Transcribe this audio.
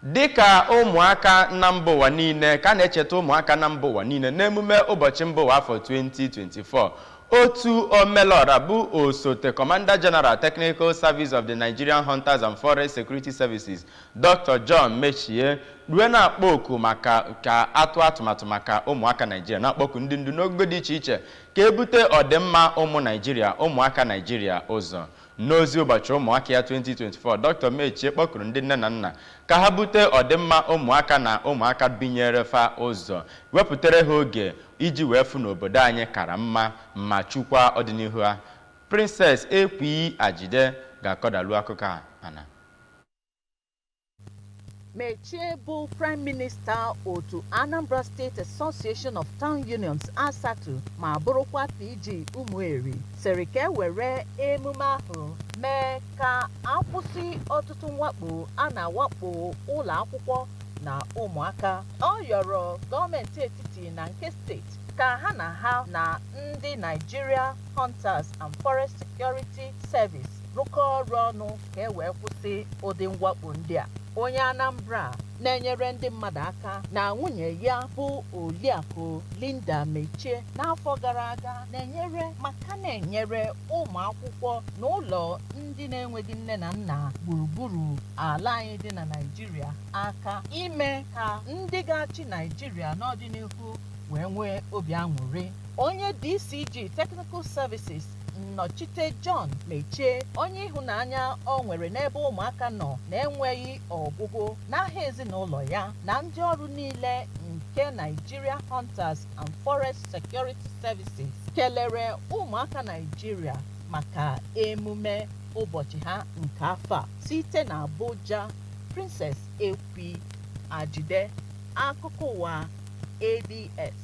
Dịka ụmụaka na mba ụwa niile ka a na-echeta ụmụaka na mba ụwa niile n'emume ụbọchị mba ụwa afọ 2024, otu omelọra bụ osote Commander General Technical Service of the Nigerian Hunters and Forest Security Services, Doctor John Metchie rue na-akpọ oku maka ka a tụọ atụmatụ maka ụmụaka Naijiria, na-akpọku ndị ndu n'ogo dị iche iche ka e bute ọdịmma ụmụ Naijiria, ụmụaka Naijiria ụzọ. N'ozi ụbọchị ụmụaka ya 2024, Doctor Metchie kpọkuru ndị nne na nna ka ha bute ọdịmma ụmụaka na ụmụaka binyere fa ụzọ, wepụtere ha oge iji wee fụ na obodo anyị kara mma ma chekwaa ọdịnihu ha. Princess Ekwi Ajide ga-akọdalu akụkọ a ana. Metchie bụ Prime Minister otu Anambra State Association of Town Unions ASATU ma bụrụkwa PG Umueri sịrị ka e were emume ahụ mee ka a kwụsị ọtụtụ mwakpo a na-awakpo ụlọ akwụkwọ na ụmụaka. Ọ yọrọ gọọmenti etiti na nke steeti ka ha na ha na ndị Nigeria Hunters and Forest Security Service rụkọọ ọrụ ọnụ ka e wee kwụsị ụdị mwakpo ndị a. Onye Anambra a na-enyere ndị mmadụ aka na nwunye ya bụ Oriakụ Linda Metchie n'afọ gara aga na-enyere maka na-enyere ụmụ akwụkwọ na ụlọ ndị na-enweghị nne na nna gburugburu ala anyị dị na Naịjirịa aka ime ka ndị ga-achị Naịjirịa n'ọdịnihu wee nwee obi aṅụrị. Onye DCG Technical Services nnọchite John Metchie, onye ịhụnanya o nwere n'ebe ụmụaka nọ na-enweghị ọgwụgwụ, n'aha ezinụlọ ya na ndị ọrụ niile nke Nigeria Hunters and Forest Security Services kelere ụmụaka Naijiria maka emume ụbọchị ha nke afọ a. Site na Abuja, Princess Ekwi Ajide, Akụkọ Ụwa, ABS.